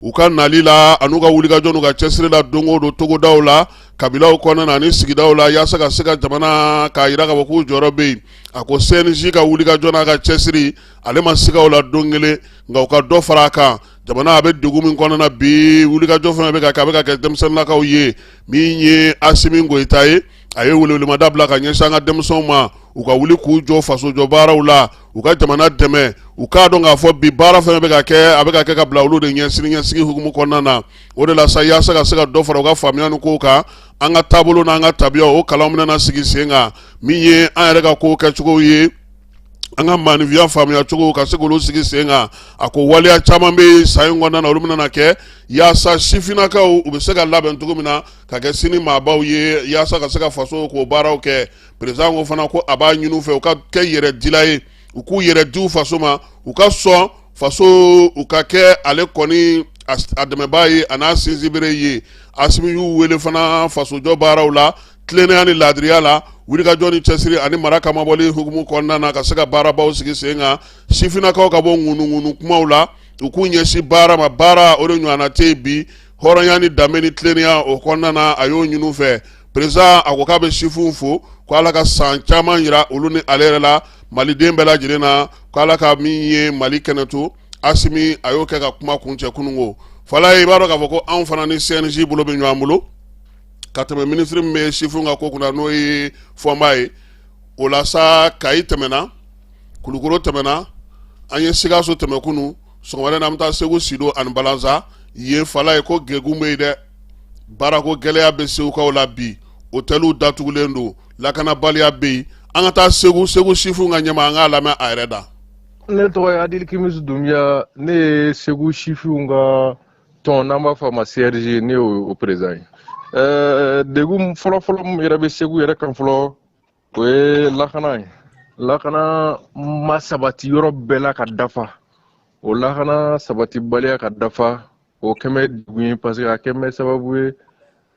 u ka nali la an'u ka wulikajɔ n'u ka cɛsiri la don o don togodaw la kabilaw kɔnɔna ani sigidaw la yaasa ka se ka jamana k'a yira k'a fɔ k'u jɔyɔrɔ bɛ yen a ko cnj ka wulikajɔ n'a ka cɛsiri ale ma siga o la don kelen nka u ka dɔ fara a kan jamana a bɛ degun min kɔnɔna na bi wulikajɔ fana bɛ ka kɛ a bɛ ka kɛ denmisɛnninnakaw ye min ye asimi goyita ye a ye welewelemada bila ka ɲɛsin an ka denmisɛnw ma u ka wuli k'u jɔ fasojɔ baaraw la u ka jamana dɛmɛ u k'a dɔn k'a fɔ bi baara fana bɛ ka kɛ a bɛ ka kɛ ka bila olu de ɲɛ siniɲɛsigi hukumu kɔnɔna na o de la sa yaasa ka se ka dɔ fara u ka faamuya ni kow kan an ka taabolo n'an ka tabiya o kalan bɛna sigi sen kan min ye an yɛrɛ ka kow kɛcogow ye an ka maanifinya faamuya cogo ka se k'olu sigi sen kan a ko waleya caman bɛ san in kɔnɔna na olu bɛna kɛ yaasa sifinnakaw u bɛ se ka labɛn cogo min na ka kɛ sini maabaw ye yaasa ka se ka fasoko baaraw kɛ président ko fana ko a b'a ɲini u fɛ u ka kɛ yɛrɛdila ye u k'u yɛrɛ di u faso ma u ka sɔn faso u ka kɛ ale kɔni a dɛmɛbaa ye a n'a sinsinbere ye asimi y'u wele fana fasojɔ baaraw la tilennenya ni laadiriya la wulikajɔ ni cɛsiri ani mara kamabɔli hukumu kɔnɔna na ka se ka baarabaw sigi sen kan sifinnakaw ka bɔ ŋunuŋunu kumaw la u k'u ɲɛsin baara ma baara o de ɲɔgɔnna tɛ yen bi hɔrɔnya ni danbe ni tilennenya o kɔnɔna na a y'o ɲini u fɛ président a ko k'a bɛ sifinw fo ko ala ka san caman yira olu ni ale yɛrɛ la maliden bɛɛ lajɛlen na ko ala ka min ye mali kɛnɛ to asimi a y'o kɛ ka kuma kuncɛ kunun ko falayi i b'a dɔn k'a fɔ ko anw fana ni cnj bolo bɛ ɲɔgɔn bolo ka tɛmɛ minisiri min bɛ sifinw ka ko kunna n'o ye fɔnba ye o la sa kayi tɛmɛna kulukoro tɛmɛna an ye sikaso tɛmɛ kunun sɔgɔmada in na an bɛ taa segu sido ani balansa ye falayi ko degun bɛ yen dɛ baarako gɛlɛya bɛ segukaw la bi otɛliw datugulen don lakanabaliya bɛ yen an ka taa segu segu sifinw ka ɲɛmaa an k'a lamɛn a yɛrɛ da ne tɔgɔ adil kimisi dunbiya ne ye segu sifinw ka tɔn n'an b'a fɔ ma crj ne y'o président ye degun fɔlɔfɔlɔ min yɛrɛ bɛ segu yɛrɛ kan fɔlɔ O ye lakana ye lakana ma sabati yɔrɔ bɛɛ la ka dafa o lakana sabatibaliya ka dafa o kɛlen bɛ degun ye parce que a kɛlen bɛ sababu ye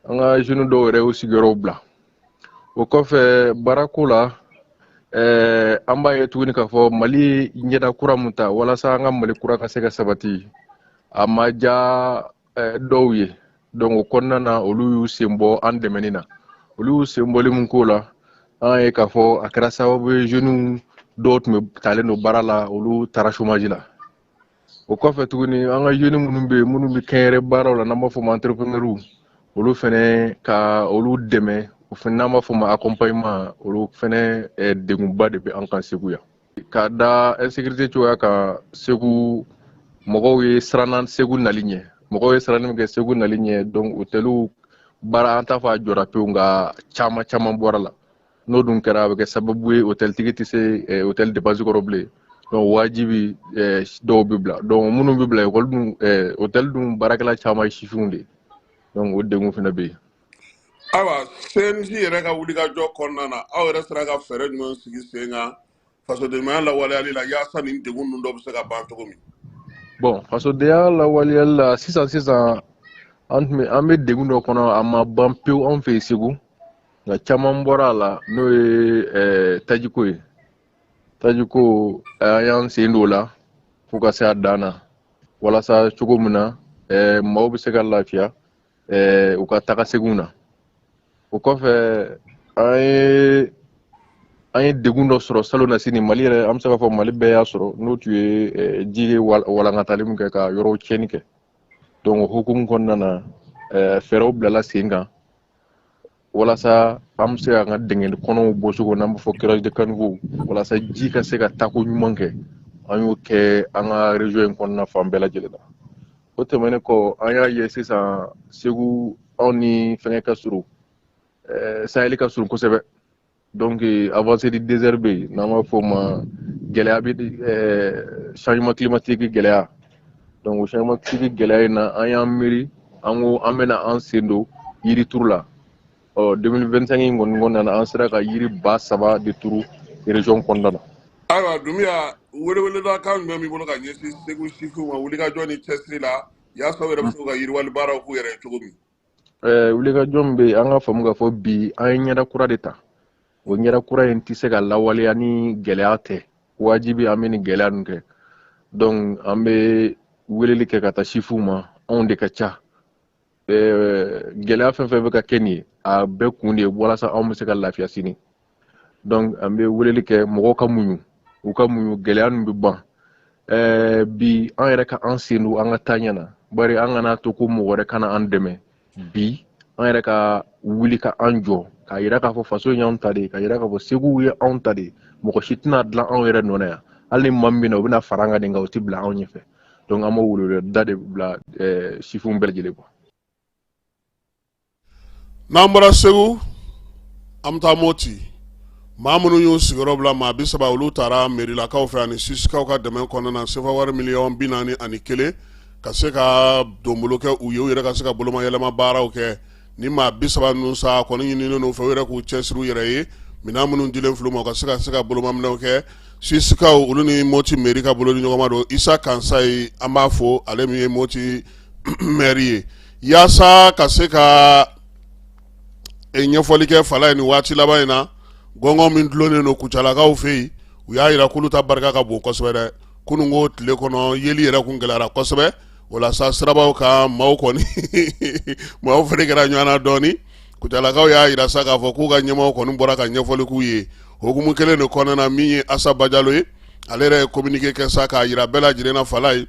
an ka jeunes dɔw yɛrɛ y'u sigiyɔrɔw bila o kɔfɛ baarako la eh, an b'a ye tuguni k'a fɔ mali ye ɲɛda kura mun ta walasa an ka mali kura ka se ka sabati a ma diya eh, dɔw ye donc o kɔnɔna na olu y'u sen bɔ an dɛmɛni na olu y'u sen bɔli min k'o la an y'a ye k'a fɔ a kɛra sababu ye jeunes dɔw tun bɛ talen don baara la olu taara chômage la o kɔfɛ tuguni an ka jeunes minnu bɛ yen minnu bɛ kɛnyɛrɛ baaraw la n'an b'a fɔ ma entrepreneur olu fɛnɛ ka olu dɛmɛ o fɛnɛ n'an b'a fɔ ma accompagnement olu fɛnɛ eh, degunba de bɛ an kan segu yan ka da insécurité cogoya kan segu mɔgɔw ye siranna segu nali ɲɛ mɔgɔw ye siranni min kɛ segu nali ɲɛ donc hôteliw baara an t'a fɔ a jɔra pewu nka caman caman bɔra a la n'o dun kɛra a bɛ kɛ sababu ye hôteltigi tɛ se hôtel dépense kɔrɔ bilen donc wajibi dɔw bɛ bila donc minnu bɛ bila ekɔli dun hôtel dun baarakɛla caman ye sifinw de ye donc o degun fana bɛ yen ayiwa cnj yɛrɛ ka wulikajɔ kɔnɔna na aw yɛrɛ sera ka fɛɛrɛ jumɛn sigi sen kan fasodenɲumanya lawaleyali la yaasa nin degun ninnu dɔ bɛ se ka ban cogo min bon fasodenya lawaleyali la sisan sisan an tun bɛ an bɛ degun dɔ kɔnɔ a ma ban pewu anw fɛ yen segu nka caman bɔra a la n'o ye eh, tajiko ye tajiko an y'an sen don o la fo ka se a dan na walasa cogo min na eh, maaw bɛ se ka lafiya ɛɛ u ka taga seginw na o kɔfɛ an ye an ye degun dɔ sɔrɔ salonnasini mali yɛrɛ an bɛ se k'a fɔ mali bɛɛ y'a sɔrɔ n'o tun ye ji ye walankatali min kɛ ka yɔrɔw tiɲɛni kɛ donc o hukumu kɔnɔna na fɛɛrɛw bilala sen kan walasa an bɛ se k'an ka dingɛ kɔnɔw bɔ cogo n'an b'a fɔ curage de caniveau walasa ji ka se ka taako ɲuman kɛ an y'o kɛ an ka région in kɔnɔna fan bɛɛ lajɛlen na o tɛmɛnen kɔ an y'a ye sisan segu anw ni fɛngɛ ka surun eh, saheli ka surun kosɛbɛ donc euh, avancée du désert bɛ n'an b'a fɔ o ma gɛlɛya bi euh, changement climatique gɛlɛya donc changement climatique gɛlɛya in na an y'an miiri an ko an bɛna an sen don yirituru la ɔ 2025 in kɔni kɔnɔna na an sera ka yiri ba saba de turu région kɔnɔna na ayiwa dunbiya weleweleda kan jumɛn b'i bolo ka ɲɛsin segu sifinw ma wulikajɔ ni cɛsiri la yaasa u yɛrɛ bɛ se ka yiriwali baaraw k'u yɛrɛ ye cogo min eh, wulikajɔ min bɛ yen an k'a faamu k'a fɔ bi an ye ɲɛda kura de ta o ɲɛda kura in tɛ se ka lawaleya ni gɛlɛya tɛ wajibi an bɛ nin gɛlɛya ninnu kɛ donc an bɛ weleli kɛ ka taa sifinw ma anw de ka ca eh, gɛlɛya fɛn fɛn bɛ ka kɛ nin ye a bɛɛ kun de ye walasa anw bɛ se ka lafiya sini donc an bɛ weleli kɛ mɔgɔw ka muɲu u ka muɲu gɛlɛya ninnu bɛ ban ɛɛ bi an yɛrɛ ka an sen don an ka taa ɲɛ na bari an kana to ko mɔgɔ wɛrɛ ka na an dɛmɛ bi an yɛrɛ ka wuli ka an jɔ k'a yira k'a fɔ faso in y'anw ta de ye k'a yira k'a fɔ segu ye anw ta de ye mɔgɔ si tɛna dilan anw yɛrɛ nɔ na yan hali ni maa min bɛ na u bɛna fara an kan de nka u tɛ bila anw ɲɛfɛ donc an b'o weleweleda de bila sifinw bɛɛ lajɛlen kɔ n'an bɔra segu an bɛ taa moti maa minnu y'u sigiyɔrɔ bila maa bi saba olu taara mɛrilakaw fɛ ani susikaw ka dɛmɛ kɔnɔna na sefa wari miliyɔn bi naani ani kelen ka se ka donbolo kɛ u ye u yɛrɛ ka se ka bolomayɛlɛma baaraw kɛ ni maa bi saba ninnu sa kɔni ɲininen n'u fɛ u yɛrɛ k'u cɛsiri u yɛrɛ ye minɛn minnu dilen filɛ u ma u ka se ka se ka bolomaminɛw kɛ susikaw olu ni moti mɛri ka bolodi ɲɔgɔnma don isa kansayi an b'a fɔ ale min ye moti mɛri ye yaasa ka se ka ɲɛfɔli kɛ fala ye nin waati laban in na gɔngɔn min dulonnen don kucalakaw fɛ yen u y'a jira k'olu ta barika ka bon kosɛbɛ dɛ kunun ko tile kɔnɔ yeli yɛrɛ kun gɛlɛyara kosɛbɛ o la sa sirabaw kan maaw kɔni maaw fana kɛra ɲɔgɔn na dɔɔni kucalakaw y'a jira sa k'a fɔ k'u ka ɲɛmɔgɔ kɔni bɔra ka ɲɛfɔli k'u ye hukumu kelen de kɔnɔna na min ye asa bajalo ye ale yɛrɛ ye kominike kɛ sa k'a jira bɛɛ lajɛlen na fala ye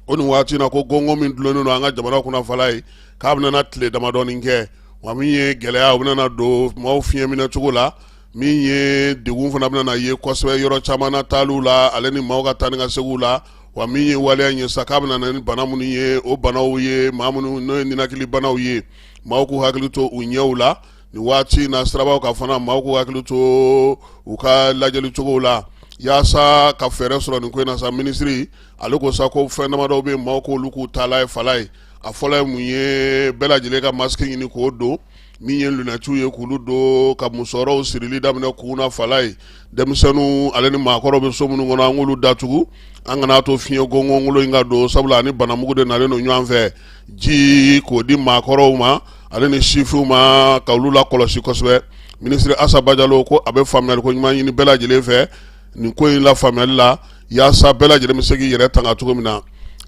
o nin waati na ko gɔngɔn min dulonnen don an ka jamana kunna fala ye k'a bɛna tile damadɔɔni kɛ wa min ye gɛlɛyaw bɛna don maaw fiɲɛ minɛ cogo la min ye degun fana bɛna ye kosɛbɛ yɔrɔ caman na taaliw la ale ni maaw ka taa ni ka seginw la wa min ye waleya ye sa k'a bɛna ni bana minnu ye o banaw ye maa minnu n'o ye ninakili banaw ye maaw k'u hakili to u ɲɛw la nin waati na sirabaw kan fana maaw k'u hakili to u ka lajɛli cogo la yaasa ka fɛɛrɛ sɔrɔ nin ko in na sa minisiri ale ko sa ko fɛn damadɔw bɛ maaw k'olu k'u taala ye fala ye a fɔlɔ ye mun ye bɛɛ lajɛlen ka masque ɲini k'o don min ye lunɛtiw ye k'olu don ka musɔrɔw sirili daminɛ kunna fala ye denmisɛnninw ale ni maakɔrɔw bɛ so minnu kɔnɔ an k'olu datugu an kana to fiɲɛ gɔngɔnkolo in ka don sabula a ni banamugu de nalen don ɲɔgɔn fɛ ji k'o di maakɔrɔw ma ale ni sifinw ma ka olu la kɔlɔsi kosɛbɛ minisiri asa bajalo ko a bɛ faamuyali ko ɲuman ɲini bɛɛ lajɛlen fɛ nin ko in la faamuyali la yaasa bɛɛ lajɛlen bɛ se k'i yɛrɛ tanga cogo min na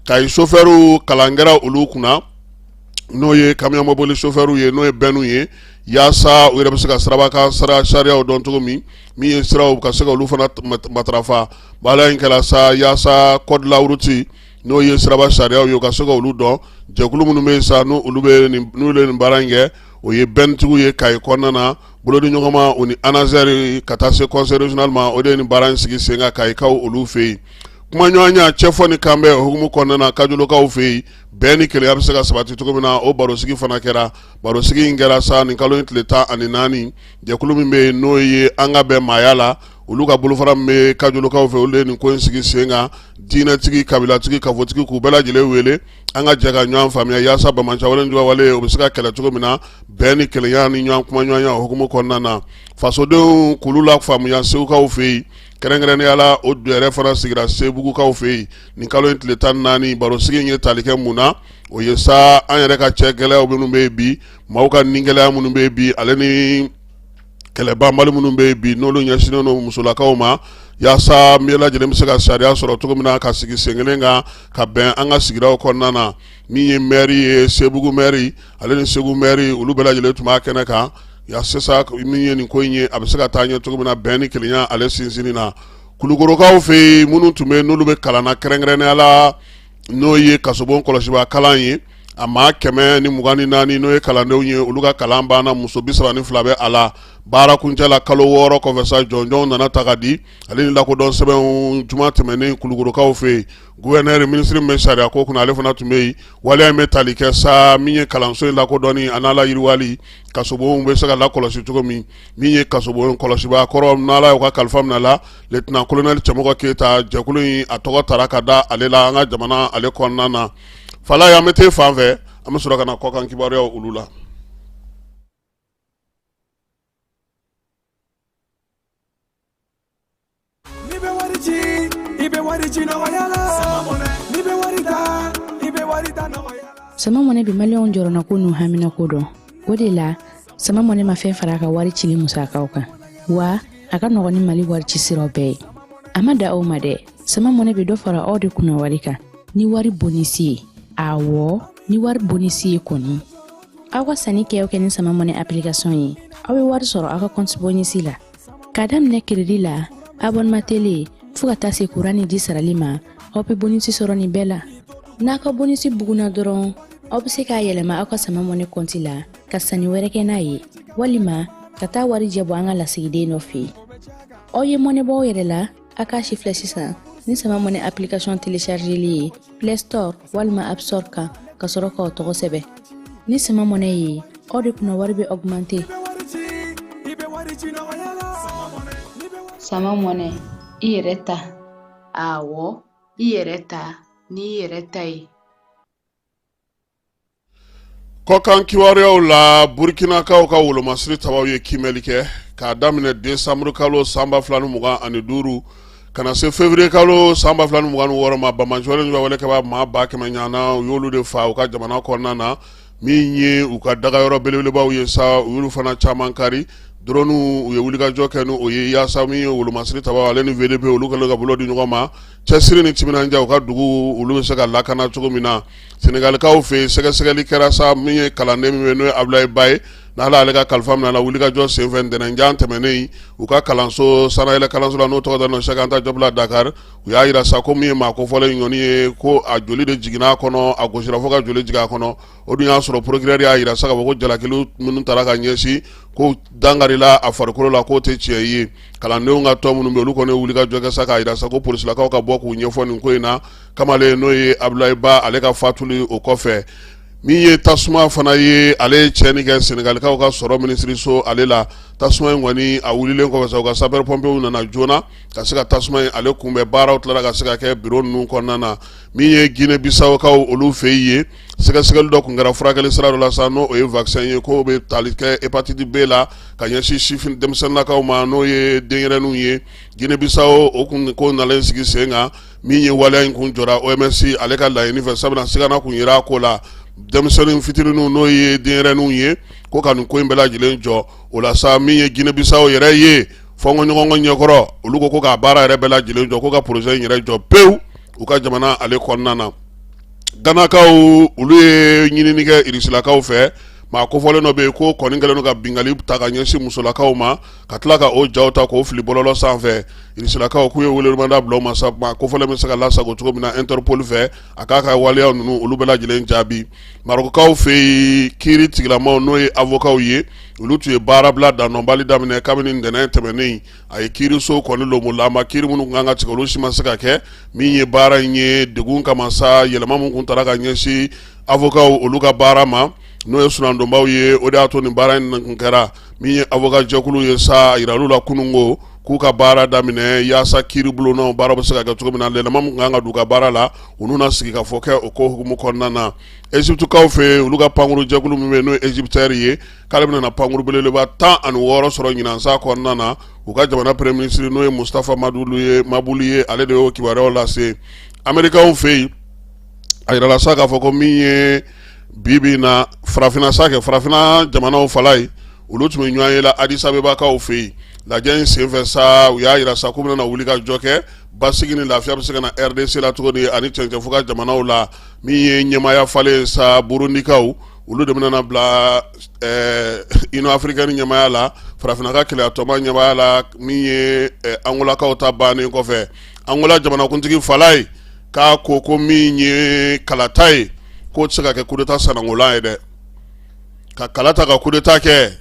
kayi sofɛriw kalan kɛra olu kunna n'o ye kamiyɔn mɔbili sofɛriw ye n'o ye bɛnw ye yaasa u yɛrɛ bɛ se ka siraba kan sariyaw dɔn cogo min min ye siraw ka se ka olu fana matarafa baara in kɛra sa yaasa code de la route n'o ye siraba sariyaw ye u ka se ka olu dɔn jɛkulu minnu bɛ yen sa n'olu bɛ nin baara in kɛ o ye bɛntigiw ye kayi kɔnɔna na Bolodi ɲɔgɔnma u ni anazɛri ka taa se conseil régional ma o de nin baara in sigi sen kan kayikaw olu fɛ yen kumaɲɔgɔnya cɛfɔ ni kanbɛn hukumu kɔnɔna na kajolokaw fɛ yen bɛn ni kelenya bɛ se ka sabati cogo min na o barosigi fana kɛra barosigi in kɛra sa nin kalo in tile tan ani naani jɛkulu min bɛ yen n'o ye an ka bɛn maaya la olu ka bolofara min bɛ kajolokaw fɛ olu de nin ko in sigi sen kan diinɛtigi kabilatigi kafotigi k'u bɛɛ lajɛlen wele an ka jɛ ka ɲɔgɔn faamuya yaasa banbaanci walejuguya wale o bɛ se ka kɛlɛ cogo min na bɛn ni kelenya ni ɲɔgɔn kuma ɲɔgɔnya hukumu kɔnɔna na fasodenw k'olu lafaamuya segukaw fɛ yen kɛrɛnkɛrɛnnenya la o dɔ yɛrɛ fana sigira sebugukaw fɛ yen nin kalo in tile tan naani barosigi in ye tali kɛ mun na o ye sa an yɛrɛ ka cɛ gɛlɛya minnu bɛ yen bi maaw ka ni gɛlɛya minnu bɛ yen bi ale ni kɛlɛbanbali minnu bɛ yen bi n'olu ɲɛsinnen don musolakaw ma yaasa bɛɛ lajɛlen bɛ se ka sariya sɔrɔ cogo min na ka sigi sen kelen kan ka bɛn an ka sigida kɔnɔna na min ye mɛri ye sebugu mɛri ale ni segu mɛri olu bɛɛ lajɛlen tun b'a kɛnɛ kan yaasa min ye nin ko in ye a bɛ se ka taa ɲɛ cogo min na bɛn ni kelenya ale sinsinni na kulukorokaw fɛ yen minnu tun bɛ yen n'olu bɛ kalan na kɛrɛnkɛrɛnnenya la n'o ye kasobon kɔlɔsibaa kalan ye a maa kɛmɛ ni mugan ni naani n'o ye kalandenw ye olu ka kalan banna muso bi saba ni fila bɛ a la baara kuncɛla kalo wɔɔrɔ kɔfɛ sa jɔnjɔnw nana ta ka di ale ni lakodɔn sɛbɛnw juma tɛmɛnen kulukorokaw fɛ yen guvɛnɛri minisiri min bɛ sariya ko kunna ale fana tun bɛ yen waleya in bɛ tali kɛ sa min ye kalanso in lakodɔnni a n'a layiriwali kasobonw bɛ se ka lakɔlɔsi cogo min min ye kasobon kɔlɔsibaa kɔrɔ n'ala y'u ka kalifa minɛ a la letɛnan kolonɛli cɛmɔgɔ keyita jɛkulu in a tɔgɔ tara ka da ale la an ka jamana ale kɔnɔna na fan la y'an bɛ te fan fɛ an bɛ sɔrɔ ka na kɔkan kibaruyaw olu la i bɛ wari ci i bɛ wari ci la i bɛ wari i bɛ wari sama mɔnɛ bɛ maliyɛnw jɔrɔna ko n'u hamina ko dɔn o de la sama mɔnɛ ma fɛn fara a ka wari cili musakaw kan wa a ka nɔgɔn ni mali wari ci siraw bɛɛ ye a ma dan o ma dɛ sama mɔnɛ bɛ dɔ fara aw de kunna wari kan ni wari bonisi ye awɔ ni wari bonisi ye kɔni aw ka sannikɛw kɛ ni sama mɔnɛ application ye aw bɛ wari sɔrɔ aw ka kɔnti bonisi la k'a daminɛ kiridi la abɔnema tele fɔɔ ka taa se kuran ni ji sarali ma aw bɛ bonisi sɔrɔ nin bɛɛ la n'a ka bonisi bugunna dɔrɔn aw bɛ se k'a yɛlɛma aw ka sama mɔnɛ kɔnti la ka sanni wɛrɛ kɛ n'a ye walima ka taa warijɛ bɔ an ka lasigiden dɔ fɛ yen aw ye mɔnɛ bɔ aw yɛrɛ la a k'a sifilɛ sisan ni sama mɔnɛ application telechargeli ye play store walima app store kan ka sɔrɔ k'aw tɔgɔ sɛbɛn ni sama mɔnɛ ye aw de kunna wari bɛ augmenter sama mɔnɛ i yɛrɛ ta Awɔ, i yɛrɛ ta n'i yɛrɛ ta ye. Kɔkan kibaruyaw la Burkinakaw ka wolomasiri tabaw ye kiimɛli kɛ k'a daminɛ desanburu kalo san ba fila ni mugan ani duuru ka na se fevrier kalo san ba fila ni mugan ni wɔɔrɔ ma banbaanci walejuguya wale kɛbaa maa ba kɛmɛ ɲɔgɔnna u y'olu de faa u ka jamana kɔnɔna na min ye u ka dagayɔrɔ belebelebaw ye sa u y'olu fana caman kari drɔni u ye wulikajɔ kɛ n'o ye yaasa min ye wolomasiri ta ale ni vdp olu kɛlen ka bolo di ɲɔgɔn ma cɛsiri ni timinandiya u ka dugu olu bɛ se ka lakana cogo min na senegalikaw fɛ yen sɛgɛsɛgɛli kɛra sa min ye kalanden min ye n'o ye abulaye ba ye n'ala ale ka kalifa minɛ a la wulikajɔ senfɛ ntɛnɛnjan tɛmɛnen u ka kalanso sanayɛlɛ kalanso la n'o tɔgɔ dalen don Cheikh Anta Diop la Dakar u y'a jira sa ko min ye maa kofɔlen in kɔni ye ko a joli de jiginna a kɔnɔ a gosira fo ka joli jigin a kɔnɔ o dun y'a sɔrɔ procureur y'a jira sa k'a fɔ ko jalaki minnu taara ka ɲɛsin ko dankarila a farikolo la k'o tɛ tiɲɛ ye kalandenw ka tɔn minnu bɛ olu kɔni ye wulikajɔ kɛ sa k'a jira sa ko polisilakaw ka bɔ k'u ɲɛfɔ nin ko in na kamalen n'o ye abulaye ba ale ka fatuli o kɔfɛ min ye tasuma fana ye ale ye tiɲɛni kɛ senegalikaw ka sɔrɔ minisiriso ale la tasuma in kɔni a wulilen kɔfɛ sa u ka sapeurs-pompiers nana joona ka se ka tasuma in ale kunbɛn baaraw tilala ka se ka kɛ biro ninnu kɔnɔna na min ye Guinée Bissaukaw olu fɛ yen ye sɛgɛsɛgɛli dɔ tun kɛra furakɛli sira dɔ la sa n'o ye vaccin ye k'o bɛ tali kɛ hépatite B la ka ɲɛsin sifin denmisɛnninlakaw ma n'o ye denyɛrɛninw ye Guinée Bissau kun ko nalen sigi sen kan min ye waleya in kun jɔra OMS ale ka laɲini fɛ sabu sigana tun yera a ko la denmisɛnnin fitininw n'o ye denyɛrɛninw ye ko ka nin ko in bɛɛ lajɛlen jɔ o la sa min ye Guinée Bissau yɛrɛ ye fɔɲɔgɔnkɔ ɲɛkɔrɔ olu ko ko k'a baara yɛrɛ bɛɛ lajɛlen jɔ ko ka projet in yɛrɛ jɔ pewu u ka jamana ale kɔnɔna na ganakaw olu ye ɲinini kɛ irisilakaw fɛ maa kofɔlen dɔ bɛ yen k'o kɔni kɛlen don ka bingali ta ka ɲɛsin musolakaw ma ka tila ka o jaw ta k'o fili bɔlɔlɔ sanfɛ irisilakaw k'u ye welemada bila u ma sa maa kofɔlen bɛ se ka lasago cogo min na Interpol fɛ a k'a ka waleya ninnu olu bɛɛ lajɛlen jaabi Marokukaw fɛ yen kiri tigilamaw n'o ye awokaw ye olu tun ye baarabila dandɔnbali daminɛ kabini ntɛnɛn tɛmɛnen a ye kiiriso kɔni donbonlama kiri minnu kun ka kan ka tigɛ olu si ma se ka kɛ min ye baara in ye degun kama sa yɛlɛma minnu tun taara ka ɲɛsin awokaw olu ka baara ma n'o ye soronadonbaw ye o de y'a to ni baara in kun kɛra min ye awoka jɛkulu ye sa jira olu la kunun ko k'u ka baara daminɛ yaasa kiri bulonda baara bɛ se ka kɛ cogo min na yɛlɛma min kun ka kan ka don u ka baara la u n'u na sigikafɔ kɛ o ko hukumu kɔnɔna na eziputikaw fɛ yen olu ka pankurujɛkulu min ye n'o ye EgyptAir ye k'ale bɛna na pankuru belebeleba tan ani wɔɔrɔ sɔrɔ ɲinan san kɔnɔna na u ka jamana premier ministre n'o ye mustafa mabuli ye ale de y'o kibaruyaw lase amerikaw fɛ yen a jirala sa k'a fɔ ko min ye bi bi na farafinna sa kɛ farafinna jamanaw fala ye olu tun bɛ ɲɔgɔnye la adisabebakaw fɛ yen lajɛ in senfɛ sa u y'a jira sa k'u bɛna na wulikajɔ kɛ basigi ni lafiya bɛ se ka na rdc la cogo di ani cɛncɛnfuga jamanaw la min ye ɲɛmaya falen sa burundikaw olu de bɛna bila eh, Union africaine ɲɛmaya la farafinna ka kelenyatɔnba ɲɛmaya la min ye eh, angolakaw ta bannen kɔfɛ angola jamanakuntigi fala ye k'a ko ko min ye kalata ye k'o tɛ se ka kɛ kudeta sanangolan ye dɛ ka kala ta ka kudeta kɛ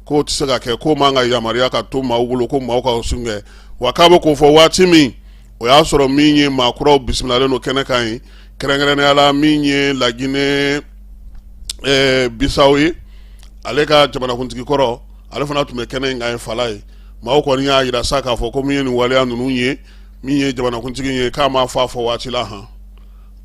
k'o tɛ se ka kɛ k'o man kan yamaruya ka to maaw bolo ko maaw ka sun kɛ wa k'a bɛ k'o fɔ waati min o y'a sɔrɔ min ye maakuraw bisimilalen don kɛnɛ kan ye kɛrɛnkɛrɛnnenya la min ye laginɛ bisaw ye ale ka jamanakuntigi kɔrɔ ale fana tun bɛ kɛnɛ in kan ye falaye maaw kɔni y'a yira sa k'a fɔ ko min ye nin waleya ninnu ye min ye jamanakuntigi ye k'a ma fɔ a fɔ waati la han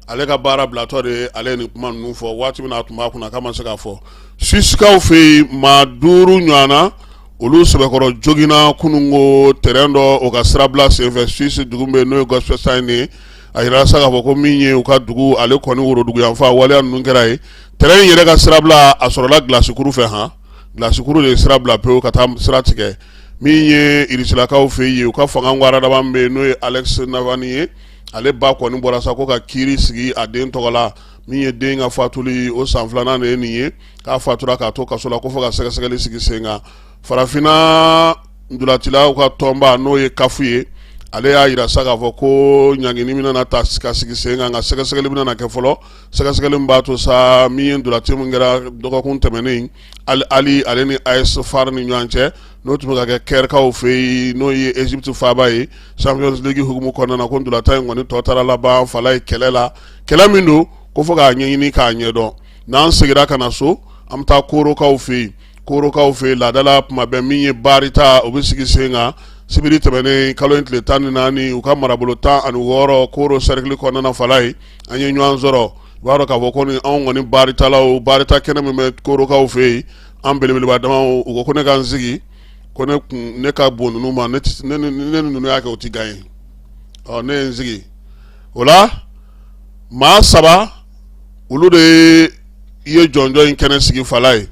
ale ka baara bilatɔ de ale ye nin kuma ninnu fɔ waati min a tun b'a kunna k'a ma se k'a fɔ suwisikaw fɛ yen maa duuru ɲɔgɔnna olu sɛbɛkɔrɔ joginna kunun ko tɛrɛn dɔ o ka sirabila senfɛ suwisi dugu bɛ n'o ye Goppenstein ye a yira sa k'a fɔ ko min ye u ka dugu ale kɔni worodugu yanfan waleya ninnu kɛra ye tɛrɛn in yɛrɛ ka sirabila a sɔrɔla glasikuru fɛ han glasikuru de ye sirabila pewu ka taa sira tigɛ min ye irisilakaw fɛ yen u ka fanga waradaba bɛ yen n'o ye Alex Navalny ye ale ba kɔni bɔra sa ko ka kiiri sigi a den tɔgɔ la min ye den ka fatuli o san filanan de ye nin ye k'a fatura k'a to kaso la ko fo ka sɛgɛsɛgɛli sigi sen kan farafinna ndulatilaw ka tɔnba n'o ye kafu ye ale y'a yira sa k'a fɔ ko ɲangini min nana ta ka sigi sen kan ka sɛgɛsɛgɛli min nana kɛ fɔlɔ sɛgɛsɛgɛli b'a to sa min ye ndulati min kɛra dɔgɔkun tɛmɛnen Al Ahly ale ni AS Far ni ɲɔgɔn cɛ n'o tun bɛ ka kɛ kɛrikaw fɛ yen n'o ye Egypte faaba ye Champions League hukumu kɔnɔna na ko ndulatan in kɔni tɔ taara laban falaye kɛlɛ la kɛlɛ min don ko fo k'a ɲɛɲini k'a ɲɛdɔn n'an segira ka na so an bɛ taa korokaw fɛ yen korokaw fɛ yen laadala tuma bɛɛ min ye baarita o bɛ sigi sen kan sibiri tɛmɛnen kalo in tile tan ni naani u ka marabolo tan ani wɔɔrɔ koro sɛrikili kɔnɔna na falaye an ye ɲɔgɔn sɔrɔ i b'a dɔn k'a fɔ ko ni anw kɔni baaritalaw baarita kɛnɛ min bɛ korokaw fɛ yen an belebeleba dama u ko ko ne ka n sigi ko ne kun ne ka bon ninnu ma ne ne ni ninnu y'a kɛ o tɛ gaɲe ɔ ne ye n sigi o la maa saba olu de ye jɔnjɔn in kɛnɛ sigi falaye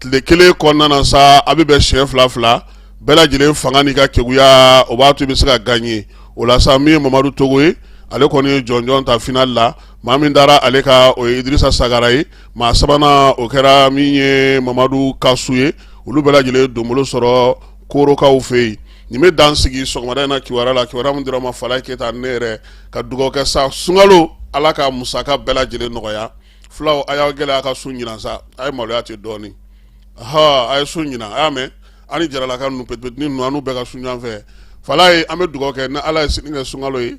tile kelen kɔnɔna na sa a bɛ bɛn siɲɛ fila fila bɛɛ lajɛlen fanga n'i ka keguya o b'a to i bɛ se ka gaɲe o la sa min ye mamadu togo ye ale kɔni ye jɔnjɔn ta final la maa min dara ale ka o ye idrisa sagara ye maa sabanan o kɛra min ye mamadu kasu ye olu bɛɛ lajɛlen donbolo sɔrɔ korokaw fɛ yen nin bɛ dan sigi sɔgɔmada in na kibaru la kibaru min dira aw ma falaye keyita ne yɛrɛ ka dugawu kɛ sa sunkalo ala ka musaka bɛɛ lajɛlen nɔgɔya fulaw a y'aw gɛlɛya a ka sun ɲinan sa a ye maloya ten dɔɔnin a ye sun ɲinan a y'a mɛn ani jaralaka ninnu pep ni ninnu bɛɛ ka sun ɲɔgɔn fɛ falaye an bɛ dugawu kɛ ni ala ye sini kɛ sunkalo ye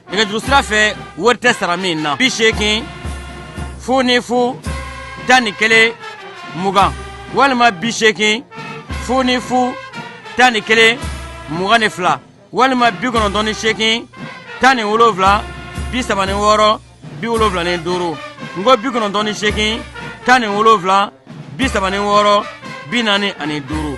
nɛgɛjuru sira fɛ wari tɛ sara min na bi seegin fu ni fu tan ni kelen mugan walima bi seegin fu ni fu tan ni kelen mugan ni fila walima bi kɔnɔntɔn ni seegin tan ni wolonwula bi saba ni wɔɔrɔ bi wolonwula ni duuru n ko bi kɔnɔntɔn ni seegin tan ni wolonwula bi saba ni wɔɔrɔ bi naani ani duuru